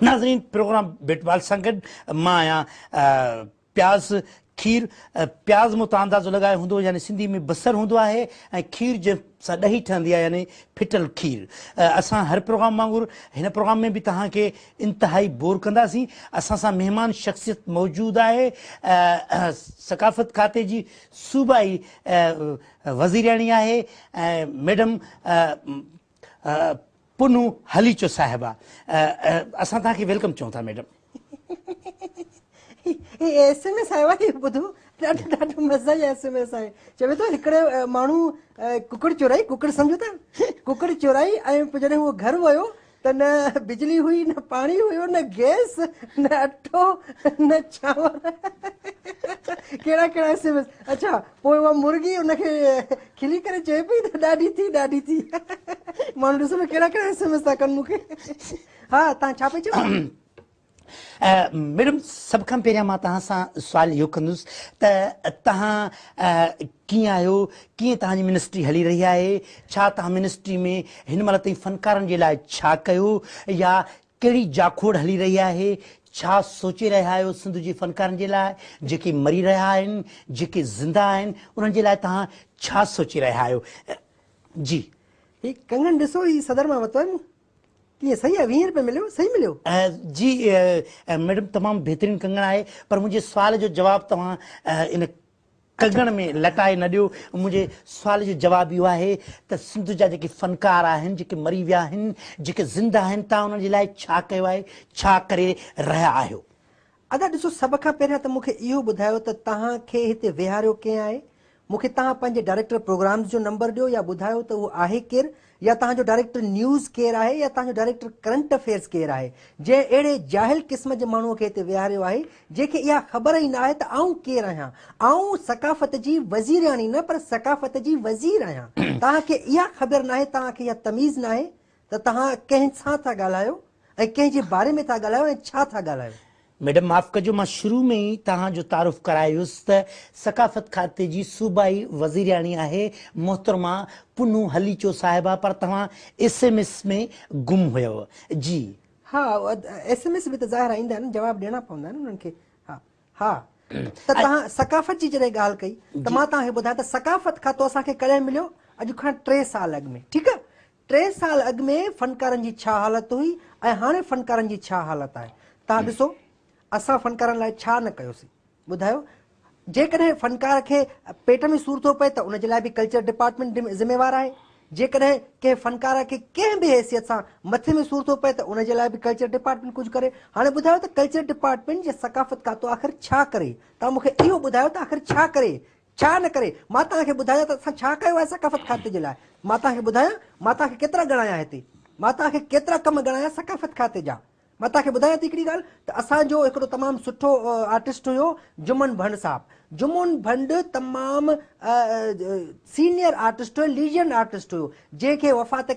ناظرين programme bat ball سان گڏ مان آهيان پياز کير پياز مون تان اندازو لڳايو هوندو يعني سنڌي ۾ بصر هوندو آهي ۽ کير جنهن سان ڏهي ٺهندي آهي يعني ڦٽل کير اسان هر پروگرام وانگر هن پروگرام ۾ به توهان کي انتهائي بور ڪنداسين اسان سان مهمان شخصيت موجود آهي ثقافت کاتي جي صوبائي وزيرياڻي آهي ۽ ميڊم پنهون هلي اچو صاحبه. اسان توهان کي ويلڪم چئون ٿا ميڊم. هي ايس ايم ايس آيو آهي ٻڌو ڏاڍو ڏاڍو مزي جو ايس ايم ايس آهي چوي ٿو هڪڙي ماڻهو ڪڪڙ چورائي ڪڪڙ سمجهو ٿا ڪڪڙ چورائي ۽ پوء جڏهن هو گهر ويو ته نه بجلي هئي نه پاڻي هيو نه گيس نه اٽو نه چانور ڪهڙا ڪهڙا ايس ايم ايس اڇا پوء اها مرغي ان کي کلي ڪري چئي پئي ته ڏاڍي ٿي ڏاڍي ٿي ماڻهو ڏسو نه ڪهڙا ڪهڙا ايس ايم ايس ٿا ڪن مون کي ها تان ڇا پئي چئو ميڊم سڀ کان پهريان مان توهان سان سوال اهو ڪندس ته توهان ڪيئن آهيو ڪيئن توهان جي منسٽري هلي رهي آهي ڇا توهان منسٽري ۾ هن مهل تائين فنڪارن جي لاء ڇا ڪيو يا ڪهڙي جاکوڙ هلي رهي آهي، ڇا سوچي رهيا آهيو سنڌ جي فنڪارن جي لاء، جيڪي مري رهيا آهن، جيڪي زنده آهن، انهن جي لاء توهان ڇا سوچي رهيا آهيو؟ جي. هي ڪنگڻ ڏسو هي صدر مان ورتو آهي مون. ڪيئن صحيح آهي ويهين روپين مليو صحيح مليو. جي ميڊم تمام بهترين ڪنگڻ آهي پر منهنجي سوال جو جواب توهان ان ڪڳڻ ۾ لٽائي نه ڏيو. منهنجي سوال جو جواب اهو آهي ته سنڌ جا جيڪي فنڪار آهن، جيڪي مري ويا آهن، جيڪي زنده آهن، توهان انهن جي لاء ڇا ڪيو آهي، ڇا ڪري رهيا آهيو؟ ادا ڏسو سڀ کان پهريان ته مون کي اهو ٻڌايو ته توهان کي هتي ويهاريو ڪنهن آهي؟ مون کي توهان پنهنجي ڊائريڪٽر پروگرامز جو نمبر ڏيو يا ٻڌايو ته اهو آهي ڪير يا توهان جو ڊائريڪٽر نيوز ڪير آهي يا توهان جو ڊائريڪٽر ڪرنٽ افيئرز ڪير آهي، جنهن اهڙي جاهل قسم جي ماڻهوء کي هتي ويهاريو آهي، جنهن کي اها خبر ئي نه آهي ته آئون ڪير آهيان. آئون ثقافت جي وزيرياڻي نه پر ثقافت جي وزير آهيان. توهان کي اها خبر نه آهي، توهان کي اها تميز نه آهي ته توهان ڪنهن سان ٿا ڳالهايو ۽ ڪنهن جي باري ۾ ٿا ڳالهايو ۽ ڇا ٿا ڳالهايو. ميڊم معاف ڪجو مان شروع ۾ ئي توهان جو تعارف ڪرائي ويس ته ثقافت کاتي جي صوبائي وزيرياڻي آهي محترمه پنهون هليچو صاحبه پر توهان ايس ايم ايس ۾ گم هيئو جي. ها ايس ايم ايس به ته ظاهر ايندا آهن جواب ڏيڻا پوندا آهن انهن کي ها ها ته توهان ثقافت جي جڏهن ڳالهه ڪئي ته مان توهان کي ٻڌايان ته ثقافت کاتو اسان کي ڪڏهن مليو اڄ کان ٽي سال اڳ ۾ ٺيڪ آهي ٽي سال اڳ ۾ فنڪارن جي ڇا حالت هئي ۽ هاڻي فنڪارن جي ڇا حالت آهي؟ توهان ڏسو اسان فنڪارن لاء ڇا نه ڪيوسين؟ ٻڌايو؟ جيڪڏهن فنڪار کي پيٽ ۾ سور ٿو پئي ته ان جي لاء به ڪلچر ڊپارٽمينٽ ذميوار آهي، جيڪڏهن ڪنهن فنڪار کي ڪنهن به حيثيت سان مٿي ۾ سور ٿو پئي ته ان جي لاء به ڪلچر ڊپارٽمينٽ ڪجهه ڪري. هاڻي ٻڌايو ته ڪلچر ڊپارٽمينٽ يا ثقافت کاتو آخر ڇا ڪري؟ توهان مون کي اهو ٻڌايو ته آخر ڇا ڪري؟ ڇا نه ڪري؟ مان توهان کي ٻڌايان ته اسان ڇا ڪيو آهي ثقافت کاتي جي لاء؟ مان توهان کي ٻڌايان؟ مان توهان کي ڪيترا ڳڻايا هتي؟ مان توهان کي ڪيترا ڪم ڳڻايا ثقافت کاتي جا؟ مان توهان کي ٻڌايان ٿي هڪڙي ڳالهه ته اسان جو هڪڙو تمام سٺو آرٽسٽ هيو جمن ڀنڊ صاحب. جمن ڀنڊ تمام سينيئر آرٽسٽ هيو، ليجنڊ آرٽسٽ هيو، جنهن کي وفات.